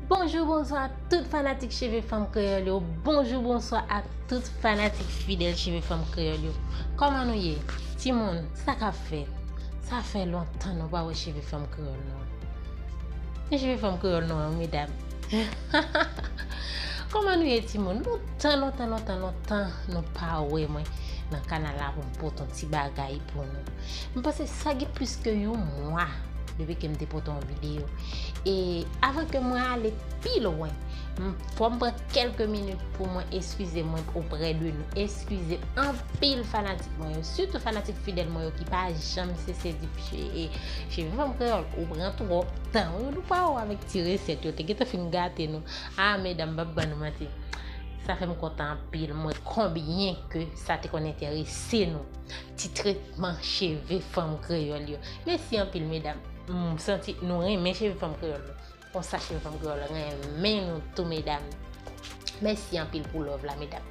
Bonjou, bonswa a tout fanatik Cheve Fanm Kreyòl yo. Bonjou, bonswa a tout fanatik fidèl Cheve Fanm Kreyòl yo. Kòman nou ye? Ti moun, sa k ap fèt? Sa fè lontan nou pa wè Cheve Fanm Kreyòl nou an. Men Cheve Fanm Kreyòl nou an, medam. Kòman nou ye ti moun? Lontan, lontan, lontan, lontan nou pa wè mwen nan kanal la pou m pote yon ti bagay pou nou. M panse sa gen plis ke yon mwa depi ke m te pote yon videyo. E avan ke mwen ale pi lwen, m fò m pran kelke minit pou mwen eskize mwen oprè de nou. Eskize anpil fanatik mwen yo, sitou fanatik fidèl mwen yo ki pa janm sese di e Cheve Fanm Kreyòl ou pran twòp tan ou nou pa ou avèk ti resèt yo te gen tan fin gate nou. A medam m pap ban nou manti. Sa fè m kontan anpil mwen konbyen ke sa te konn enterese nou. Ti tretman cheve fanm kreyòl yo. Mesi anpil medam. M santi nou renmen cheve fanm kreyòl yo. Konsa cheve fanm kreyòl renmen nou tou medam. Mesi anpil pou love la medam.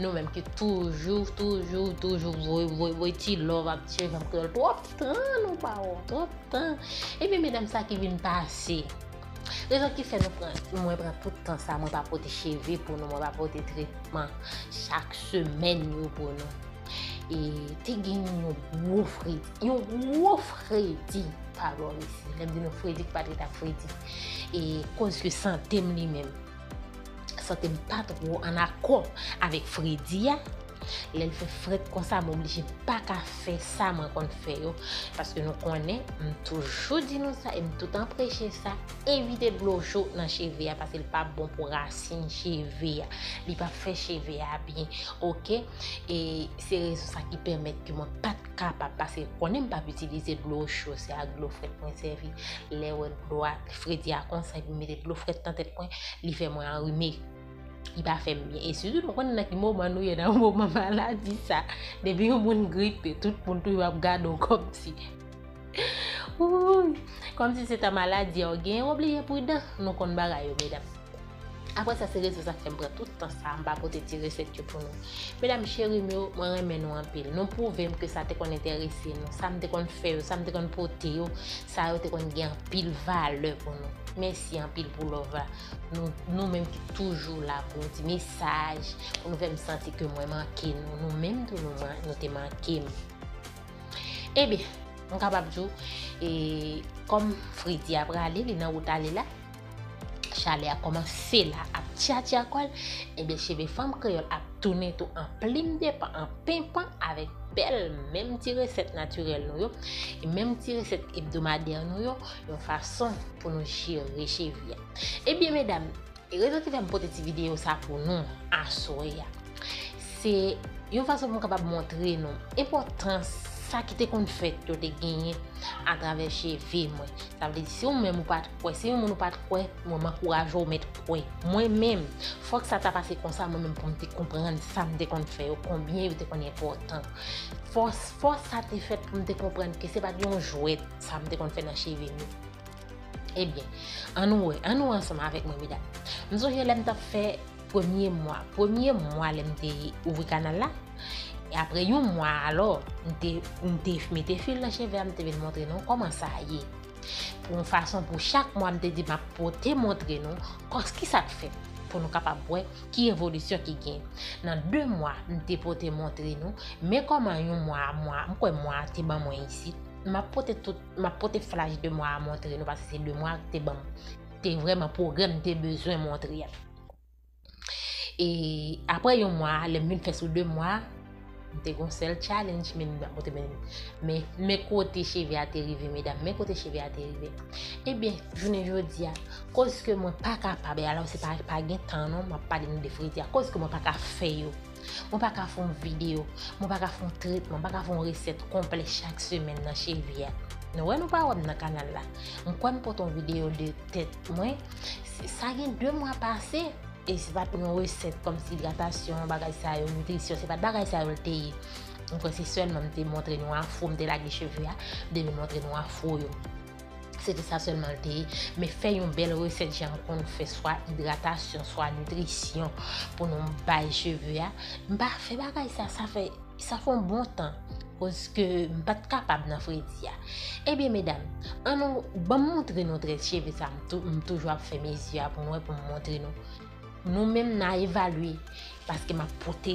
Nou menm ki toujou, toujou, toujou voye, voye, voye ti love ap cheve fanm kreyòl. Twòp tan nou pa wè, twòp tan. Ebyen medam sa ki vin pase. Rezon ki fè nou pran, mwen pran tout tan sa mwen pa pote cheve pou nou, mwen pa pote tretman chak semèn yo pou nou. E te gen yon gwo fredi. Yon gwo fredi. Pa gwo resi. Lèm di nou fredi ki pati ta fredi. E koz ke sante m li menm. Sante m pa tro an akò avèk fredi a. Lè l fè fret konsa mwen oblije pa ka fè sa mwen konn fè yo. Paske nou konnen, m toujou di nou sa e m tout an preche sa, evite dlo cho nan cheve a paske l pa bon pou rasin cheve a. Li pa fè cheve a byen. Ok? E se rezon sa ki pèmèt ke mwen pat kapab pase konnen m pap itilize dlo cho, se ak dlo frèt mwen sèvi. Lè wè dlo a fredi a konsa epi m mete dlo frèt nan tèt mwen, li fè mwen anrime. Li pa fè m byen. E sitou nou konnen nan ki moman nou ye nan moman maladi sa. Depi yon moun gripe, tout moun toujou ap gade w kòm si. Wouuyy! Kòm si se ta maladi a ou genyen, w oblije pridan. Nou konn bagay yo medam. Aprè sa se rezon sa fèm pran tout tan sa m pa pote ti resèt yo pou nou. Medam cheri m yo, mwen renmen nou anpil. Nou pwouve m ke sa te konn enterese nou, sa m te konn fè yo, sa m te konn pote yo, sa yo te konn gen anpil valè pou nou. Mèsi anpil pou love la. Nou, nou menm ki toujou la pou nou di mesaj, pou nou fèm santi ke mwen manke nou, nou menm tou nou man, nou te manke m. Ebyen, m kapab di w, e, kòm Fredi a prale, li nan wout ale la, Chalè a kòmanse la ap tchatcha kò l, enben cheve fanm kreyòl ap tounen tou an plim de pan, an penpan avèk bèl menm ti resèt natirèl nou yo, menm ti resèt ebdomadè nou yo, yon fason pou nou jere cheve a. Ebyen medam, rezon ki fè m pote ti videyo sa pou nou aswè a, se yon fason pou m kapab montre nou enpòtans sa ki te konn fèt yo te genyen atravè cheve mwen. Sa vle di si ou menm ou pa t Kwè se yon moun ou pat kwè mwen m ankouraje w met kwè mwen menm fòk sa ta pase konsa mwen menm pou m te konprann sa m te konn fè yo konbyen yo te konn enpòtan fòs fòs sa te fèt pou m te konprann ke se pat yon jwèt sa m te konn fè nan cheve nou ebyen an nou wè an nou wè ansanm avèk mwen medam m sonje lè m tap fè premye mwa premye mwa lè m te ouvri kanal la apre yon mwa alò m te m te mete fil nan cheve a m te vin montre nou kòman sa ye. pou yon fason pou chak mwa m te di m ap pote montre nou kòs ki sa k fèt pou nou kapab wè ki evolisyon ki gen. Nan 2 mwa m te pote montre nou men kòman yon mwa a mwa m kwè mwa a te ban mwen isit. M ap pote tout m ap pote flach de mwa a montre nou paske se 2 mwa a k te ban m te vrèman pwogrè m te bezwen montre. E apre yon mwa, lèm vin fè sou 2 mwa, m te gon sèl challenge men m apote men men men kote cheve a te rive medam men kote cheve a te rive ebyen jounen jodi a koske mwen pa kapab e ala se pa pa gen tan non m ap pale nou de fredi a koske mwen pa ka fè yo Mwen pa ka fè yon video, mwen pa ka fè yon tretman, mwen pa ka fè yon resèt konplè chak semèn nan chevi a. Nou wè nou pa wè m nan kanal la. M kwè m pote yon video de tèt mwen, sa gen 2 mwa pase. E se pat yon resèt kòm si idratasyon, bagay sa yo, nitrisyon, se pat bagay sa yo l te ye. M kwè se sèlman m te montre nou afro, m te lage cheve a, m te vin montre nou afro yo. Se te sa sèlman l te ye. Men fè yon bèl resèt jan m konn fè swa idratasyon, swa nitrisyon pou nou bay cheve a. M pa fè bagay sa, sa fè, sa fè yon bon tan. Koske m pa t kapab nan fredi a. Ebyen medam, an nou, ban m montre nou trèt cheve sa m toujou ap fè mezi a pou nou wè pou m montre nou. Nou menm n a evalye. Paske m ap pote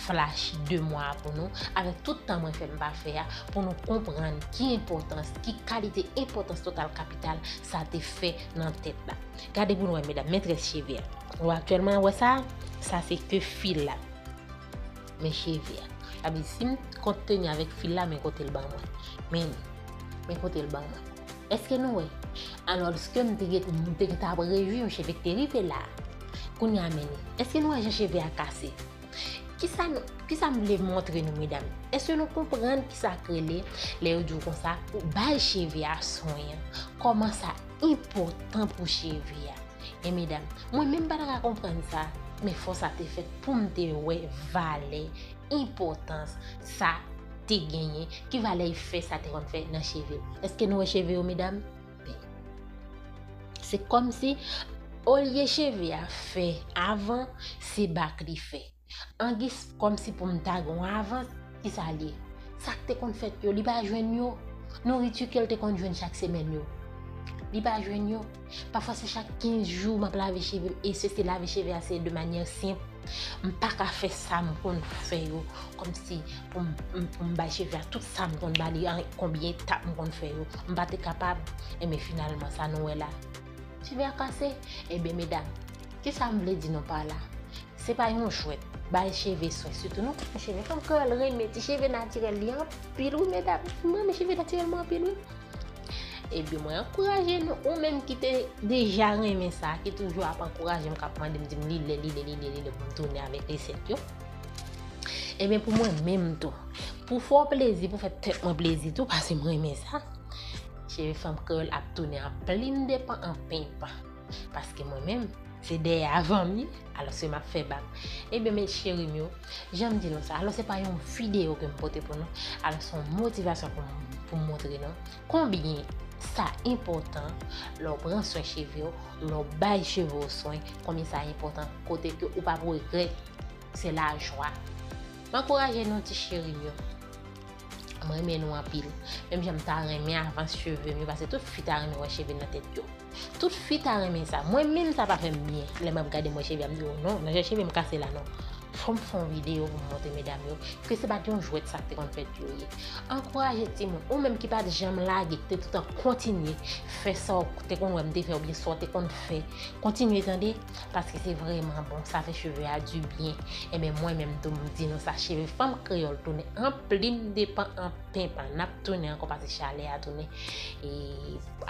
flash 2 mwa a pou nou, avèk tout tan mwen fè m pa fè a, pou nou konprann ki enpòtans, ki kalite enpòtans total kapital sa te fè nan tèt la. Gade pou nou wè medam, mètrès cheve a. Ou aktyèlman ap wè sa a? Sa se ke fil la. Men cheve a. Sa vle di si m kont teni avèk fil la, men kote l ban mwen. Men li. Men kote l ban mwen. Eske nou wè? Alòske m te gen m te gen ta prevu yon cheve k te rive la. Kounye a men, eske nou wè jan cheve a kase? Kisa nou, kisa m vle montre nou medam? Eske nou konprann kisa k rele lè yo di w konsa pou bay cheve a swen an? Kòman sa enpòtan pou cheve a? E medam, mwen menm m pa ta ka konprann sa, men fò sa te fèt pou m te wè valè, enpòtans sa. te genyen, ki valè efè sa te konn fè nan cheve. Eske nou wè cheve yo medam? Ben. Se kòm si olye cheve a fè avan, se bak li fè. Angis kòm si pou m ta gen yon avans, ki sa l ye? Sa k te konn fèt yo, li pa jwenn yo? Nouriti ke l te konn jwenn chak semèn yo, li pa jwenn yo? Pafwa se chak 15 jou map lave chevem e se se lave cheve a se de manyè senp, m paka fè sa m konn fè yo kòmsi pou m bay cheve a tout sa m konn bali an konbyen etap m konn fè yo m pa te kapab enben finalman sa nou wè la cheve a kase enben medam kisa m vle di nou pa la se pa yon jwèt bay cheve swen sitou nou ki gen cheve fanm kreyòl renmen ti cheve natirèl li anpil wi medam m renmen cheve natirèl mwen anpil wi. Ebyen mwen ankouraje nou ou menm ki te deja renmen sa, ki toujou ap ankouraje m, kap mande m di m li le, li le, li le, li le pou m tounen avèk resèt yo. Ebyen pou mwen menm tou, pou fè w plezi, pou fè tèt mwen plezi tou, pase m renmen sa, Cheve Fanm Kreyòl ap tounen an plim de pan an pimp. Paske mwen menm, se dèyè avanm ye, alòs ke map fè bak. Ebyen mes cherim yo, janm di nou sa, alòs se pa yon video kem pote pou nou, alòs se yon motivasyon poum montre nou konbyen sa enpòtan lè w pran swen cheve w, lè w bay cheve w swen, konbyen sa enpòtan kote ke ou pap regrèt, se lajwa. M ankouraje nou ti cherim yo. M renmen nou anpil. Menm jan m ta renmen avans cheve m yo pase tout fi ta renmen wè cheve nan tèt yo. Tout fi ta renmen sa. Mwen menm sa pa fè m byen. Lè m ap gade m wè cheve a m di oh non nan jan cheve m kase la non. Fò m fè yon videyo pou m montre medam yo ke se pat yon jwèt sa k te konn fèt yo ye. Ankouraje timoun. Ou menm ki pat janm lage, ki te toutan kontinye fè sa w te konn wè m te fè oubyen sa w te konn fè. Kontinye tande. Paske se vreman bon, sa fè cheve a du byen. Enben mwen menm tou m di nou sa cheve fanm kreyòl tounen an plim depan an penpan. N ap tounen ankò pase chalè a tounen e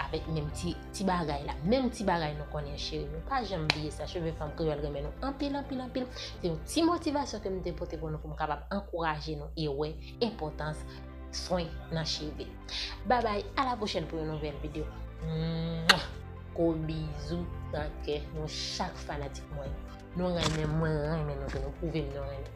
avèk menm ti ti bagay la. Menm ti bagay nou konnen cheri nou pa janm bliye sa cheve fanm kreyòl renmen nou anpil anpil anpil. Se yon ti motivasyon ke m te pote pou nou pou m kapab ankouraje nou e wè enpòtans swen nan cheve. Babay a la pwochèn pou yon nouvèl videyo. Mwah! Gwo bizou nan kè nou chak fanatik mwen yo. Nou renmen mwen renmen nou tou nou pwouvem nou renmen.